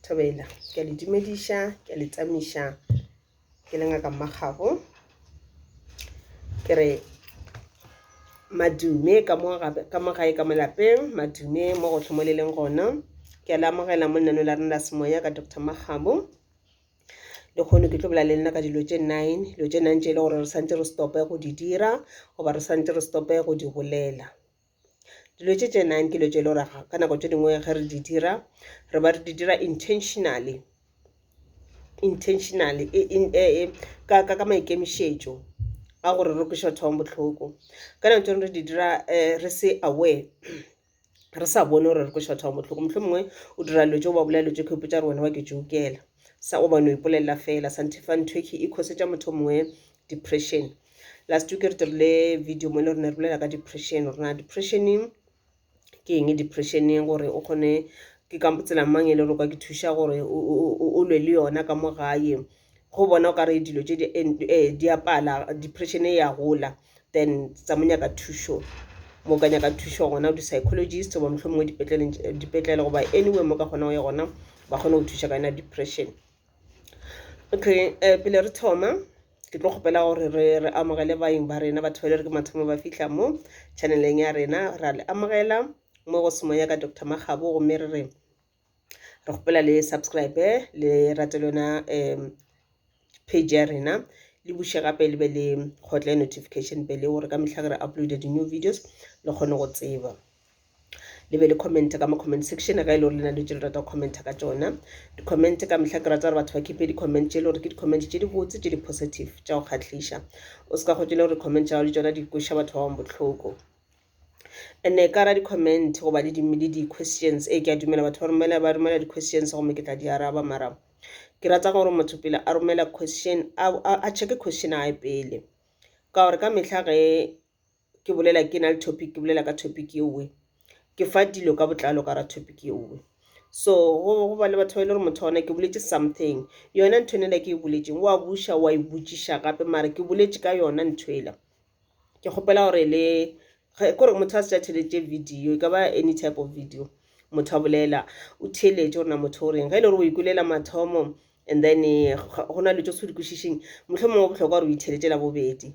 thobela ke a le dumediša ke a le tsamiša ke le ngaka mmakgago ke re madume ka mo gae ka mo lapeng madume mo go tlhomoleleng gona ke a le amogela mo lenaneo la rena la semoya ka dr makgabo le kgone ke tlo bola le nna ka dilo tše nine dilo tše nine tše e le gore re santse re stope go di dira goba re santse re stope go di bolela dilo tše tše nine ke dilo tše e le gore ka nako tše dingwe ge re di dira re ba re di dira intentionally intentionally e, e, e, e, ka, ka, ka maikemišetšo a gore re kweša batho ba bohloko ka nako tše re di dira um re se aware re sa bone gore re kweša batho ba bohloko mohlho mongwe o dira dilo tse o ba bolela dilo tse kho ipotsa gore wena wa ke jokela sa o bane o ipolelela fela santhefa ntho e e khosetša motho mongwe depression last week re dirile video mo le rene re bolela ka depression rena depression ke eng depression gore o kgone ke ka tsela mang e le gore ka ke thuša gore o lwe le yona ka mo gae go bona o ka re dilo tse eh, di a pala depression e ya gola then tsa mo nyaka thušo mo ka nyaka thušo gona di-psychologist goba mohlomongwe dipetlele goba anyway mo ka kgona go ya gona ba kgone go thuša ka yona depression okay um pele re thoma ke tlo kgopela gore re re amogele baeng ba rena batho ba le re ke mathomo ba fitlha mo channeleng ya rena ra le amogela mo go semoya ka dr magabo gomme re re re kgopela le subscribe le rate le yona um page ya rena le buše gape le be le kgotle notification pele gore ka mehla ke re uploade di-new videos le kgone go tseba le be le comment ka mo comment section ga e le gore le na le tse le rata go commenta ka tsona di-comment ka mehla ke rata gore batho ba kepe di-comment tse e le gore ke di-comment tse di botse tse di positive tša go kgatlhiša o se ka go tšele gore comment tša gago le tsona di kweša batho ba bangwe bohloko ene ka ra di-comment goba le di-questions e ke a dumela batho ba romela ba romela di-questions gomme ke tla di araba mara ke rata gore motho pele a romela question a checke question a e pele ka gore ka mehla ge ke bolela ke na le topic ke bolela ka topic ye nngwe ke fa dilo ka botlalo ka ra topic ye nngwe so go ba le batho ba e le gore motho ona ke boletse something yona ntho nela ke e boletseng wa buša wa e botšiša gape mare ke boletse ka yona ntho ela ke kgopela gore le kore motho a se tša theletše video e ka ba any type of video motho a bolela o theletše gore na motho o reng ge e le gore o ikolela mathomo and then eh, go na le tso se di kwešišeng mohlomongwe bohlokwa gore o itheletše la bobedi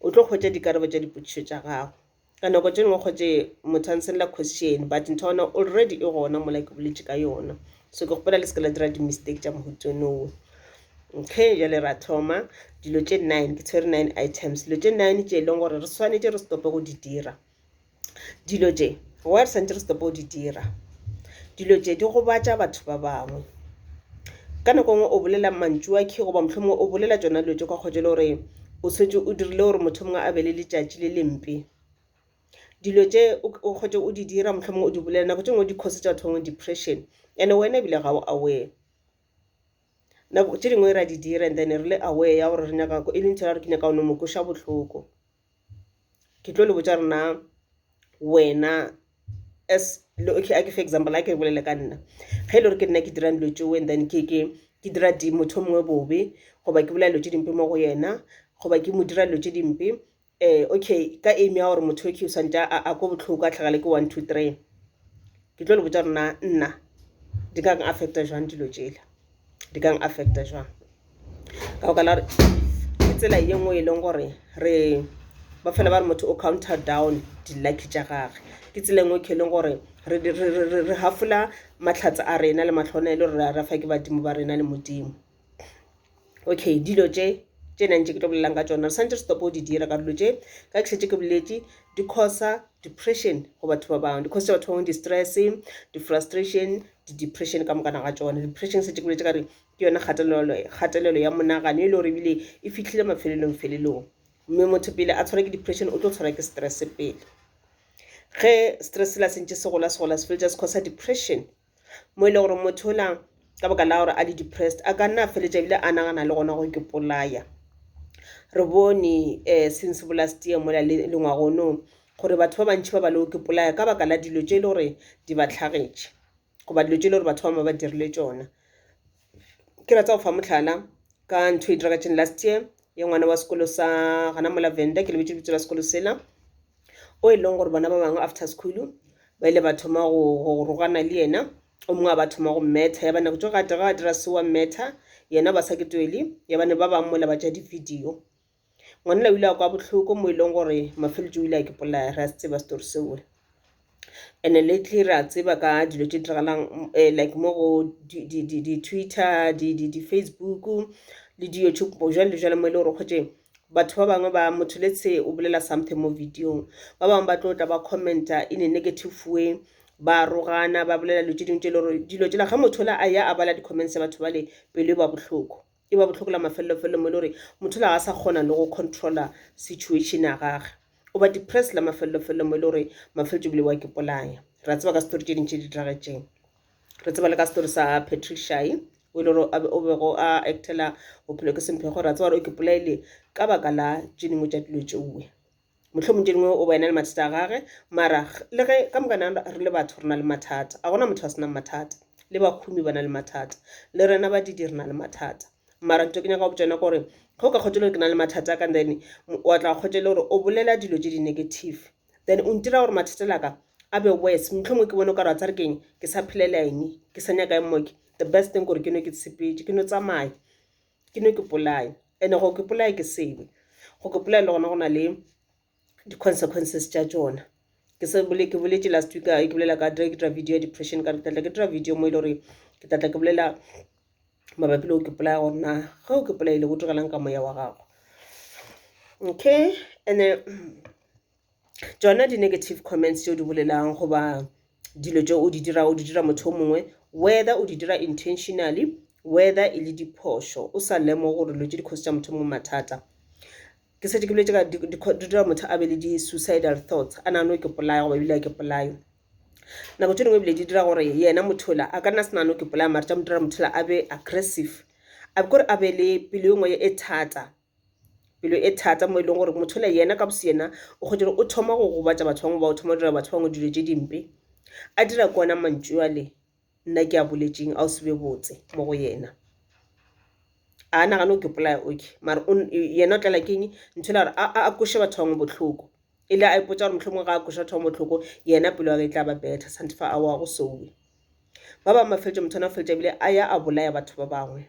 o tlo hwetša dikarabo tša dipotšišo tša gago ka nako tše dingwe kgotše motho a nsella question but ntho yona already e gona mola ke boletše ka yona so ke kgopela le se ke la dira di-mistake tša mohutsonowe okay jale ra thoma dilo tše nine ke tshwere nine items dilo tše nine tše e leng gore re swanetše re stope go di dira dilo tše wa re santse re stop go di dira dilo tše di gobatša batho ba bangwe ka nako nngwe o bolela mantšu a khe goba mohlomongwe o bolela tšona dilo tše kwa kgotse le gore o setse o dirile gore motho mongwe a be le letšatši le lempe dilo tše o kgotse o di dira mohlomongwe o di bolela nako tše ngwe di cause tša batho bangwe depression and wena ebile ga o aware nako tše dingwe ra di dira and then re le aware ya gore re nyaka e leng tšela gore ke nyaka o no mo kweša bohloko ke tlo le botša rena wena as okay a ke fe example a ke bolele ka nna ge e le gore ke nna ke dirang dilo tšeo and then ke ke ke dira di motho o mongwe bobe goba ke bolela dilo tše dimpe mo go yena goba ke mo dira dilo tše dimpe um okay ka aim ya gore motho okay o swantse a ko botlhoko a tlhagale ke one two three ke tlo le botša rena nna di ka affecta jwang dilo tšela di ka affecta jwang ka go ka la ke tsela ye nngwe e leng gore re ba fela ba re motho o counter down di-lucky tša gage ke tsela nngwe ke leng gore re hafola matlhatsa a rena le matlhona e le gore re fa ke badimo ba rena le modimo okay dilo tše tše nang tše ke tlo bolelang ka tsona re santse re stopo go di dira ka dilo tše ka ke šetse ke boletše di-cosa depression go batho ba bangwe di-cosa batho ba bangwe di-stress di-frustration di-depression ka mokana ga tsona depression se tekoletse ka re ke yona kgatelelo ya monagano e le gore ebile e fitlhile mafelelong felelong mme motho pele a tshwara ke depression o tlo tshwara ke stress pele ge stress la sentše se gola se gola se feletsa se causa depression mo e le gore motho ola ka baka la gore a le depressed a ka nna a feletša ebile a nagana le gona gore ke polaya re bone um since bolast year mola le ngwagonong gore batho ba bantši ba ba le okipolaya ka baka la dilo tše e le gore di ba tlhagetše goba dilo tše e le gore batho ba ma ba dirile tšona ke ratsa go fa motlhala ka ntho e diragatseng last year ya ngwana wa sekolo sa gana mola venda ke lebetse lebitso la sekolo sela o e leng gore bona ba bangwe after school ba ile ba thoma go rogana le yena o mongwe a ba thoma go mmetha ya bana kutso gate ga dira se wa mmetha yena ba sa ke twele ya bane ba bangwe mola ba ja di-video Ngwanela o ile a kwa bohloko mo e leng gore Mafeletšo o ile a ke polaya re a se tseba story seo and lately re a tseba ka dilo tše diragalang eh, like mo go di-twitter di-facebook le di-youtube jale le jale mo e le gore kgotše batho ba bangwe ba motho let's say o bolela something mo videong ba bangwe ba tlo tla ba commenta in a negative way ba rogana ba bolela dilo tše dingwe tše e le gore dilo tšela ge motho la a ya a bala di-comments tsa batho bale pelo e ba bohloko e ba bohloko la mafelelofelo mo e le gore motho la ga sa kgona le go controller situation ya gage o ba depressed la mafelelofelo mo e le gore mafeletso bile wa ke polaya ra tseba ka story tše dintši di diragetseng re tseba le ka story sa patricia e o e le gore o bego a actela bophelo ke semphego ra tseba gore o ke polaile ka baka la tše dingwe tša dilo tšeuwe Mohlomong tše dingwe o ba ena le mathata a gage, mara le ge ka moka na re le batho re na le mathata. A gona motho a senang mathata. Le bahumi ba na le mathata. Le rena badidi re na le mathata. Mara ntho ke nyaka go botša yona gore ge o ka kgotšela gore ke na le mathata a ka then wa tla kgotšele gore o bolela dilo tše di-negative then o ntira gore mathata la ka a be worse mohlomongwe ke bone o ka re wa tsa re keng ke sa phelela eng ke sa nyaka eng moke the best thing gore ke no ke tshepetše ke no tsamaya ke no ke polaya ene go ke polaya ke sebe go ke polaya le gona go na le di-consequences tša tšona ke se bole ke boletse last week ke bolela ka ke dira video ya depression ka re tlatla ke dira video mo e le gore ke tlatla ke bolela mabapi le go ke polaya gore na ge o ke polaile go direlang ka moya wa gago okay and-e tšona di negative comments tšeo di bolelang goba dilo tše o di dirago o di dira motho o mongwe whether o di dira intentionally whether e le diphošo o sa lemoge gore dilo tše di cause tša motho mongwe mathata ke setse ke boletse ka di dira motho a be le di-suicidal thoughts a nagano ke polaya goba ebile a ke polayo nako tše dingwe ebile di dira gore yena mothola a ka nna se nagano ke polaya mare tša mo dira mothola a be aggressive a kore a be le pelo e nngwe e thata pelo e thata mo e leng gore motho le yena ka boseyena o kgwetše gore o thoma go gobatša batho bangwe ba o thoma go dira batho bangwe dilo tše dimpe a dira ke ona mantšu ale nna ke a boletšeng a o se be botse mo go yena a nagane o ke polaya oke mare yena o tlela keng ntho la gore a koše batho bangwe bohloko e le a ipotsa gore mohlomongwe ga a koša batho bangwe bohloko yena pelo ya ka e tla ba betha sante fa a wa go sowe ba bangwe mafeletša motho ana o feletša bile a ya a bolaya batho ba bangwe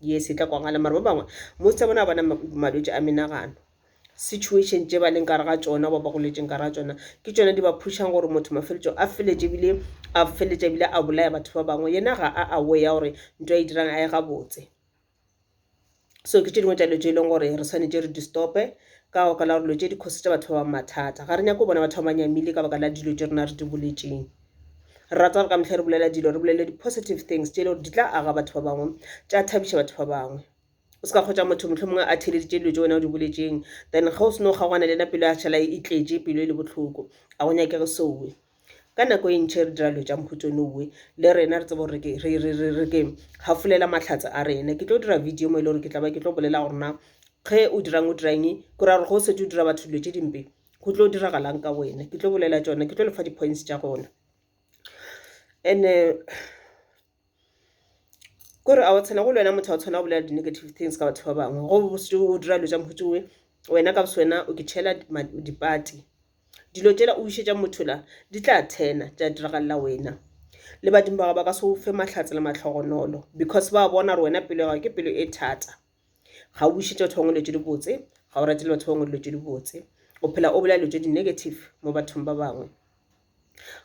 ye se tla kwagala mara ba bangwe most ya bona ba bona malwetši a menagano situation tše ba leng kare ga tšona ba ba goletšeng kare ga tšona ke tšona di ba phušang gore motho mafeletšo a feletše ebile a feletša ebile a bolaya batho ba bangwe yena ga a awe ya gore nto a e dirang a e gabotse so ke tše dingwe tša dilo tše e leng gore re swanetše re di stope ka baka la gore dilo tše di cause tša batho ba bangwe mathata ga re nyake go bona batho ba ba nyamile ka baka la dilo tše rena re di boletšeng rata gore ka mehla re bolela dilo re bolele di-positive things tše e le gore di tla aga batho ba bangwe tša thabiša batho ba bangwe o se ka kgotsa motho mohlho mongwe a theleditše dilo tše wena o di boletšeng then ge o seno kgaogana le yena pelo ya šhala e tletše pelo e le bohloko a go nyake re sowe ka nako e ntšhe re dira dilo tša mokhutsone owe le rena re tsebo gore re ke gafolela mahlatse a rena ke tlo dira video mo e le gore ke tla ba ke tlo bolela gorena ge o dirang o dirang ke ra gore go setse o dira batho dilo tše dimpe go tlo diragalang ka wena ke tlo bolela tšona ke tlo lefa di-points tša gona and kore a o tshwana go le wena motho a o tshwana go bolela di-negative things ka batho ba bangwe go bositse o dira dilo tša mokgotsi we wena ka bose wena o ke tšhela dipati dilo tšela o išetša motho la di tla thena tša diragalela wena le badimo ba gago ba ka se o fe mahlatse le mahlogonolo because ba bona gore wena pelo ya gago ke pelo e thata ga o bušetše batho bangwe dilo tše dibotse ga o ratile batho bangwe dilo tše dibotse o phela o bolela dilo tše di-negative mo bathong ba bangwe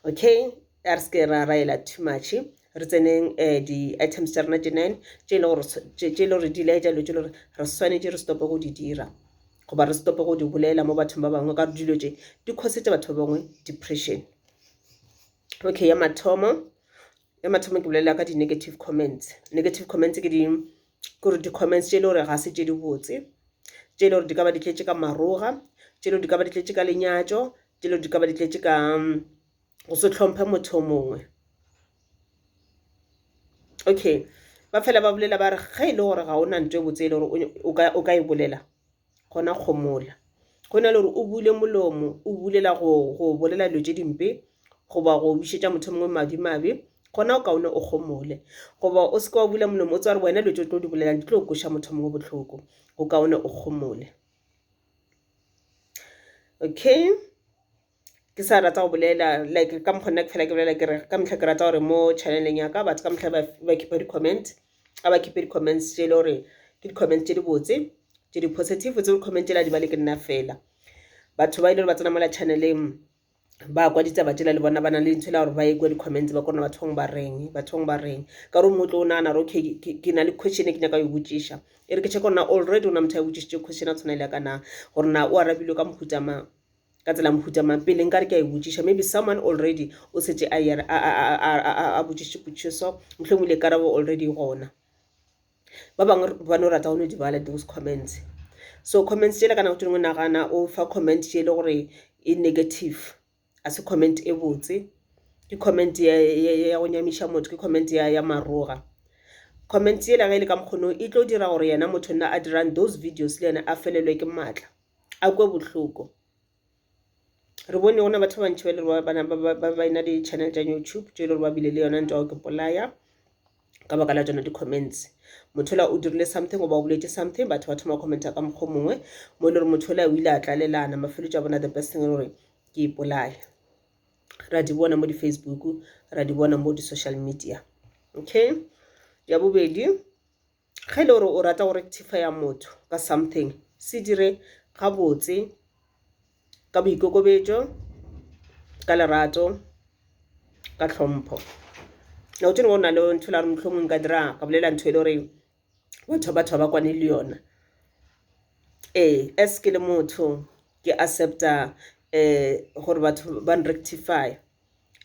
okay a re seke ra raela too much re tseneng um eh, di-items tša rena tše nine tše e le gore di laetša dilo tše e le gore re swanetše re stope go di dira goba re stope go di bolela mo bathong ba bangwe ka dilo tše di khosetse batho ba bangwe depression okay ya mathomo ya mathomo ke bolelela ka di-negative comments negative comments ke di kore di-comments tše e le gore ga se tše di botse tše e le gore di ka ba di tletše ka maroga tše e le gore di ka ba di tletše ka lenyatšo tše e le gore di ka ba di tletše ka mm, go se tlhomphe motho o mongwe okay ba fela ba bolela ba re ge e le gore ga o na nto e botse e le gore o ka e bolela gona kgomola go na le gore o bule molomo o bulela go go bolela dilo tše dimpe goba go bušetša motho mongwe madimabe gona o kaone o kgomole goba o seke wa bula molomo o tsa gore wena dilo tse o tlo di bolelang di tlo koša motho mongwe botlhoko o kaone o kgomole okay ke sa rata go bolela like ka mokgwa nna ke fela ke bolela ke re ka mehla ke rata gore mo channeleng ya ka batho ka mehla ba khipe di-comment a ba khipe di-comments tse e le gore ke di-comments tse di botse tse di positive tse di-comment tse la di bale ke nna fela batho ba e le gore ba tsena mola channeleng ba kwa ditaba tsela le bona ba nang le ntho e la gore ba ye kwa di-comments ba kona bathong ba reng bathong ba reng ka gore mongwe tlo o nagana gore okay ke na le question e ke nyaka yo botšiša e re ke check gore na already o na motho a botšišitše question a tshwana le ya ka na gore na o arabilwe ka mohutamang Ka tsela mohuta mang? Pele nka re ke a e botšiša, maybe someone already o setse a ya a, a, a, a, a, a botšiše potšišo so, mohlomongwe le karabo already e gona. Ba bangwe ba no rata go no di bala those comments. So comments tšela ka nako tše dingwe nagana o fa comment tše e le gore e negative, a se comment e botse, ke comment ya, ya, ya go nyamiša motho, ke comment ya, ya maroga. Comment yela ge e le ka mokgono e tlo dira gore yena motho nna a dirang those videos le yena a felelwe ke maatla. a kwe bohloko. Re bone gona batho ba bantši ba e le gore ba ba ba ena di-channel tša YouTube tše e le gore ba bile le yona ntwa ya go ipolaya ka baka la tšona di-comments. Motho yola o dirile something goba o boletše something batho ba thoma commenta ka mokgwa o mongwe mo e le gore motho yola o ile a tlalelana mafeletšo a bona the best thing e le gore ke ipolaya. Ra di bona mo di-Facebook ra di bona mo di-social media okay. Ya bobedi Ge ele gore o rata go rectifaya motho ka something, se dire gabotse, ka boikokobetšo, ka lerato, ka tlhompho. Nako tše dingwe go na le ntho elare mohlomongwe nka dira, ka bolela ntho ele gore batho ba thaba kwane le yona. Ee, as ke le motho ke accepta gore batho ba nrectifaya.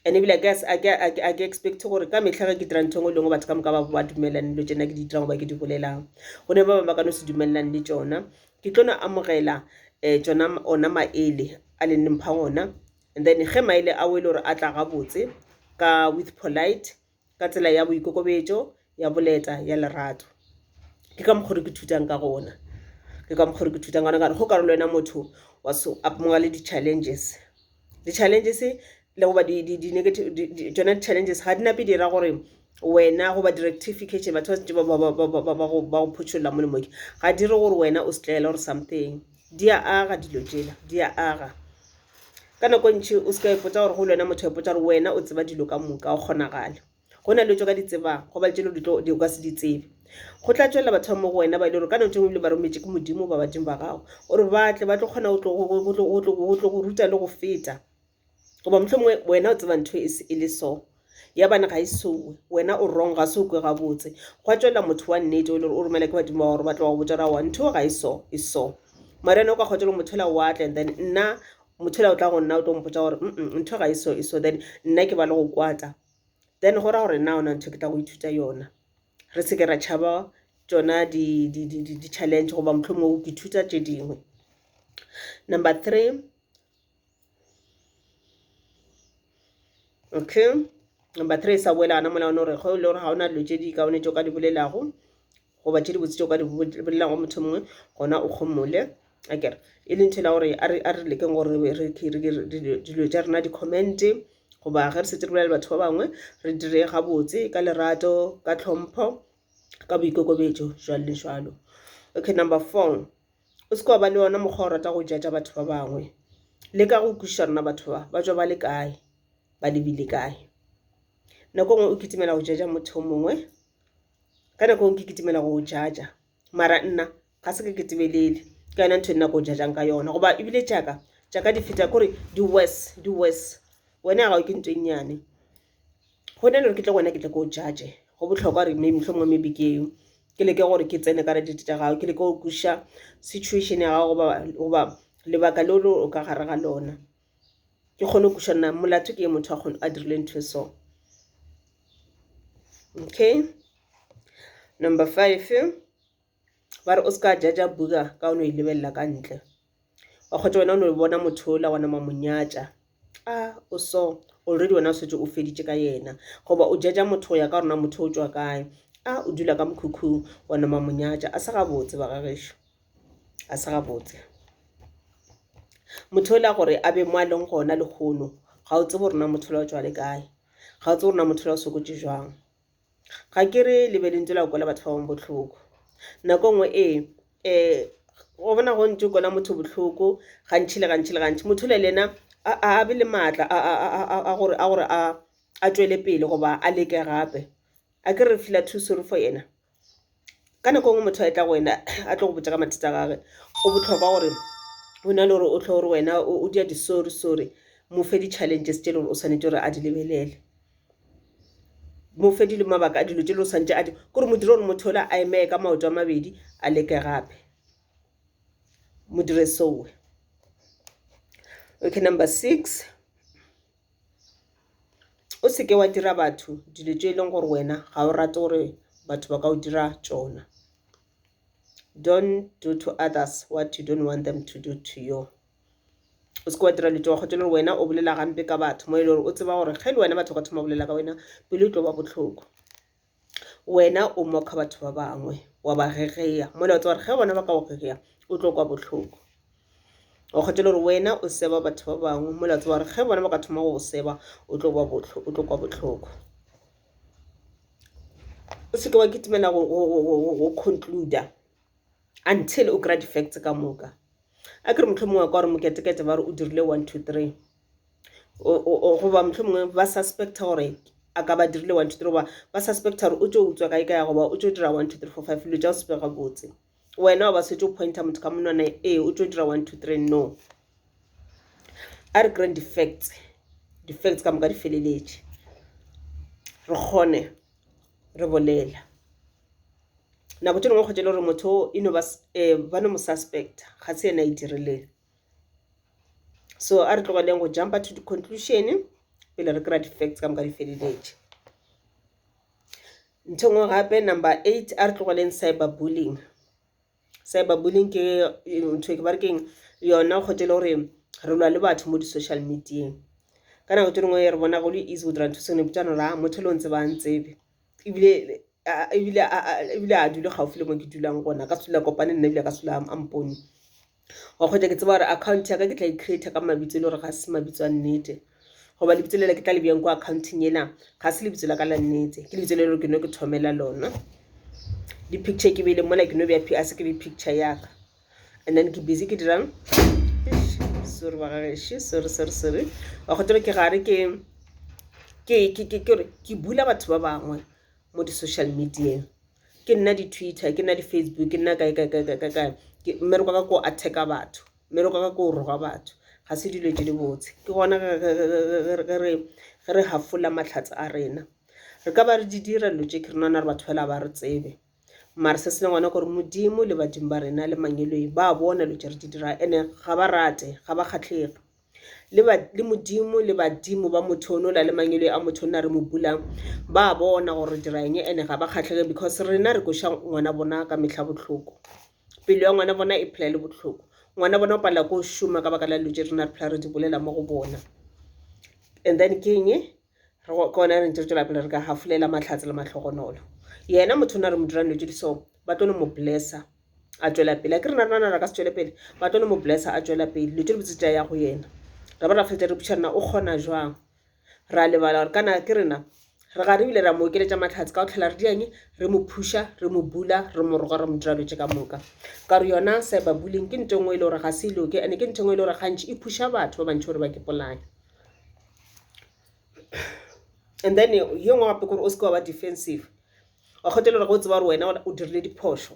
and ebile a ke expect gore ka mehla ge ke dira ntho engwe e lengwe batho ka moka ba dumelelane dilo tšena ke di dirang goba ke di bolelang go ne ba bangwe ba ka no se dumelelane le tšona ke tlo no amogela um tšona ona maele a le nne mphang ona and then ge maele a o e le gore a tla gabotse ka with polite ka tsela ya boikokobetšo ya boleta ya lerato ke ka mokgwa ke thutang ka gona ke ka mokgwa ke thutang gona ka go karolo wena motho wa so apmongwa le di-challenges di-challenges le goba di-negative tsona di-challenges ga di nape di ra gore wena goba di-rectification batho ba setse ba go photšholola mo lemoke ga di re gore wena o setlaela gore something di a aga dilo tsela di a aga ka nako ntši o se ka ipotsa gore go le wena motho ipotsa gore wena o tseba dilo ka moka o kgonagale go na le tso ka di tsebang go ba tšelo di ka se di tsebe go tla tswelela batho ba mo go wena ba e le gore ka nako tse ngwe le ba rometše ke modimo ba badimo ba gago gore ba tle ba tlo kgona go tlo go ruta le go feta goba mohlomongwe wena o tseba ntho e le so ya bane ga e sowe wena o wrong ga se o kwe gabotse gwa tswelela motho wa nnete o le o romela ke badimo ba gore ba tloga botsa ra wa ntho ga e so e so mara ene o ka kgotelo mothela wa tla and then nna mothela o tla go nna o tlo mpotsa gore mm ntho ga e so e so then nna ke ba le go kwata then go ra gore nna ona ntho ke tla go ithuta yona re seke ra tšhaba tsona di-challenge goba motlhomo o ke thuta tše dingwe number three okay number three sa boela gana mola one gore ge e le gore ga o na dilo tse di kaone tse o ka di bolelago goba tse dibotse tse o ka di bolelago motho mongwe gona o kgomole akere e leng thela gore a re lekeng gore dilo tša rena di-commente goba ge re setse re bolela batho ba bangwe re dire gabotse ka lerato ka tlhompho ka boikokobetso jalo le jalo okay number four o se ke wa ba le yona mokgwa o rata go jaja batho ba bangwe le ka go kwešiša rona batho ba ba tswa ba le kae ba lebile kae nako nngwe o kitimela go jaja motho o mongwe ka nako ngwe ke kitimela go jaja mara nna ga se ke ketebelele ka yona ntho e nna ko jajang ka yona goba ebile jaaka jaaka di feta kore di worse di worse wena ya gago ke ntho e nnyane gona e le gore ke tle gona ke tle ko judge go botlhokwa gore maybe mohlomongwe maybe ke ke leke gore ke tsene ka date tša gago ke leke go kwešiša situation ya gago goba lebaka leo le o ka gare ga lona ke kgone go kwešiša nna molato ke ye motho a dirile ntho e so okay number five ba re o se ka jaja buka ka o no e lebelela ka ntle wa kgotsa wena o no bona motho ola wa nama monyatša a o so already wena o setse o feditše ka yena goba o jaja motho go ya ka rona motho o tswa kae a o dula ka mokhukhung wa nama monyatša a se gabotse ba gagešo a se gabotse motho ola gore a be mo a leng gona lehono ga o tsebo rona motho ola o tswa le kae ga o tsebo rona motho ola o sokotše jwang Ga ke re le be le ntse la kwela batho ba bangwe bohloko. Nako nngwe ee um go bona go ntse kwela motho bohloko gantši le gantši le gantši motho o le le ena a be le maatla a gore a tšwele pele goba a leke gape. Akere re feel-a too sorry for ena. ka nako engwe motho a etla go wena a tlo go botša ka mathata a gage go bohlokwa gore go na le gore o tlho gore wena o dia di sorry sorry mo fe di-challenges tse e le gore o swanetše gore a di lebelele mo fe dilo mabaka a dilo tse e le gore o swanetše a di kore mo dire gore motho yola a emeye ka maoto a mabedi a leke gape mo dire sowe okay number six. O se ke wa dira batho dilo tše e leng gore wena ga o rate gore batho ba ka o dira tšona. Don't do to others what you don't want them to do to you. O se ke wa dira dilo tše wa kgotša le gore wena o bolela gampe ka batho mo e le gore o tseba gore ge le wena batho ba ka thoma go bolela ka wena pelo e tlo ba bohloko. wena o moka batho ba bangwe wa ba gegeya mola o tsa gore ge bona ba ka go gegeya o tlo kwa bohloko o kgethele gore wena o seba batho ba bangwe mola o tsa gore ge bona ba ka thoma go go seba o tlo kwa bohloko o seke wa kitimela go concluder until o kry-a di-facts ka moka a kere motlho mongwe kwa gore moketekete ba re o dirile one two three goba mohlomongwe ba suspecta gore a ka ba dirile one two three goba ba suspecta gore o tšo utswa kae kae goba o tšo dira one two three four five dilo tša go sepega botse wena o ba swetse o pointa motho ka monwana ee o tšo dira one two three no a re kry-eng di-facts di-facts ka moka di feleletše re kgone re bolela nako tše dingwe kgotsa e le gore motho e no ba eh, no mo suspecta ga se yena e dirileng so a re tlogeleng go jumpa to di-conclusion pele re kry-a di-facts ka moka di feleletše ntho ngwe gape number eight a re tlogeleng cyber bullying cyber bullying ke ntho ke ba re keng yona kgotse e le gore re lwa le batho mo di-social medieng ka nako tse dingwe re bona go le easy go dira ntho sengwe botsa nora motho le o ntse ba ntsebe ebile ebile a dule gaufi le mo ke dulang gona ka sela kopane nna ebile ka sela a mpone wa kgwetša ke tseba gore account ya ka ke tla e creata ka mabitso e le gore ga se mabitso a nnete goba lebitso lela ke tla le bjang ko accounting ena ga se lebitso la ka la nnete ke lebitso le gore ke no ke thomela lona di-picture ke beile mola ke no bja a se ke be picture ya ka and then ke busy ke dirang sorry bagageši sorry sorry sorry wa go tebe ke gare ke ke ke ke ke bula batho ba bangwe mo di-social medieng ke nna di-twitter ke nna di-facebook ke nna kae kae kae kae kae kae Ke- mmereko wa ka ko attacka batho mmereko wa ka ko roga batho ga se dilo tse di botse ke gona ge- ge- ge- ge- ge- ge re ge re hafola matlhatse a rena re ka ba re di dira dilo tše ke re nana re batho fela ba re tsebe mare se se leng gona gore modimo le badimo ba rena le mangwelweng ba bona dilo tše re di dira ene ga ba rate ga ba kgatlhege le ba le modimo le badimo ba motho ono la le mangelo a motho nna re mo bulang ba bona gore dira eng ene ga ba kgatlhege because rena re koša ngwana bona ka mehla botlhoko pelo ya ngwana bona e phela le botlhoko ngwana bona o palela ko šoma ka baka la dilo tše rena re phela re di bolela mo go bona and then ke eng re kone re ntse re tswela pele re ka hafolela mahlatse le mahlogonolo yena motho o na re mo dirang dilo tse di so ba tlo no mo blessa a tswela pele a ke re na rena re ka se tswele pele ba tlo no mo blessa a tswela pele dilo tse di botse tsa ya go yena ra ba ra fetsa re botšha rena o kgona jwang ra lebala gore kana ke rena re ga re bile ra mo okeletša matlhatse ka go tlhela re dianye re mo phuša re mo bula re mo roga re mo dira dilo tse ka moka ka gore yona cyber bullying ke nto e nngwe e le gore ga se iloke ande ke nto e nngwe e le gore gantši e phuša batho ba bantšhi gore ba ke polane and then yo ngwe gape kore o seke wa ba defensive wa kgotha e le gore ge o tseba gore wena o dirile diphošo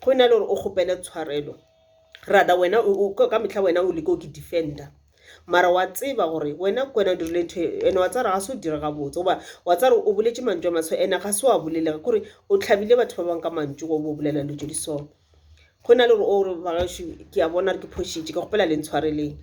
go e na le gore o kgopele tshwarelo rather wena ka mehla wena o leke o ke defender mara wa tseba gore wena ke wena o dirile ntho e and wa tsaya gore ga se o dire gabotse goba wa tsaya gore o boletse mantšu a maswe and ga se wa boleleka kore o tlhabile batho ba bangwe ka mantšu go bo bolela dilo tse di so go na le gore o re bagaešo ke a bona re ke phošitše ke kgopela le ntshwareleng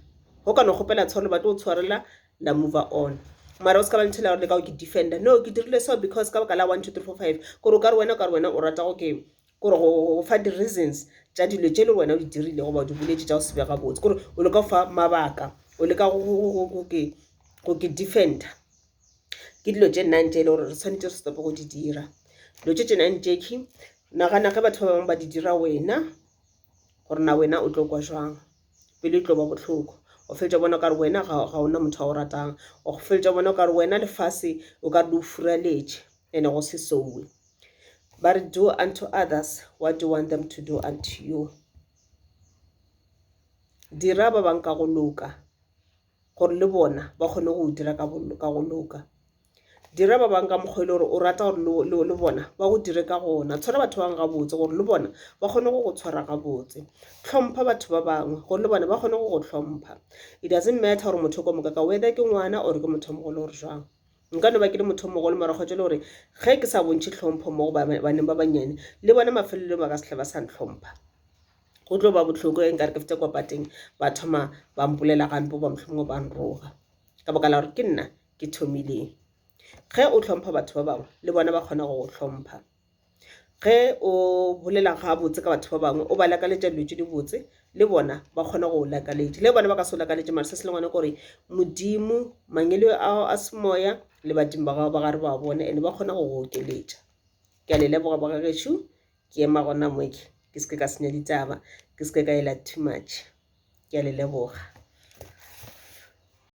go ka no kgopela tshwarelo ba tlo tshwarela la mover on mara o se ka ba nthela gore le ka go ke defender no ke dirile so because ka baka la one two three four five kore o ka re wena o ka re wena o rata go ke kore go fa di-reasons tša dilo tše le wena o di dirile goba o di boletše tša go se be gabotse kore o leka go fa mabaka o leka go ke defender ke dilo tše nine tše e le gore re tshwanetse re stop-e go di dira dilo tše tše nine tše ke nagana ge batho ba bangwe ba di dira wena gore na wena o tlo kwa jwang pelo e tlo ba bohloko o fetša bona kare wena ga ona motho wa o ratang o fetša bona kare wena lefase o ka le o furaletše and-e go se sowe ba re do unto others what do you want them to do unto you dira ba bangwe ka go loka gore le bona ba kgone go dira ka go loka dira ba bangwe ka mokgwa e le gore o rata gore le bona ba go dire ka gona tshwara batho ba bangwe gabotse gore le bona ba kgone go go tshwara gabotse tlhompha batho ba bangwe gore le bona ba kgone go go tlhompha it doesn't matter gore motho o ka moka ka whether ke ngwana or ke motho mogolo gore jwang nka no ba ke le motho mogolo mara kgotsa le gore ge ke sa bontšhe tlhompho mo go baneng ba bannyane le bona mafelelong ba ka setlha ba sa ntlhompha go tlo ba bohloko e nkare ke fete kwa pateng ba thoma ba mpolela gampe ba mohlomongwe ba nroga ka baka la gore ke nna ke thomileng ge o tlhompha batho ba bangwe le bona ba kgona go go tlhompha ge o bolela gabotse ka batho ba bangwe o ba lakaletša dilo tse di botse le bona ba kgona go o lakaletša le bona ba ka se o lakaletše mara se se le ngwana kore modimo mangelo ao a semoya le badimo ba gago ba gare ba bone and ba kgona go go okeletša ke a le leboga bogagešo Ke ema gona mo ke ke seke ka senya ditaba, ke seke ka ela too much. Ke a le leboga.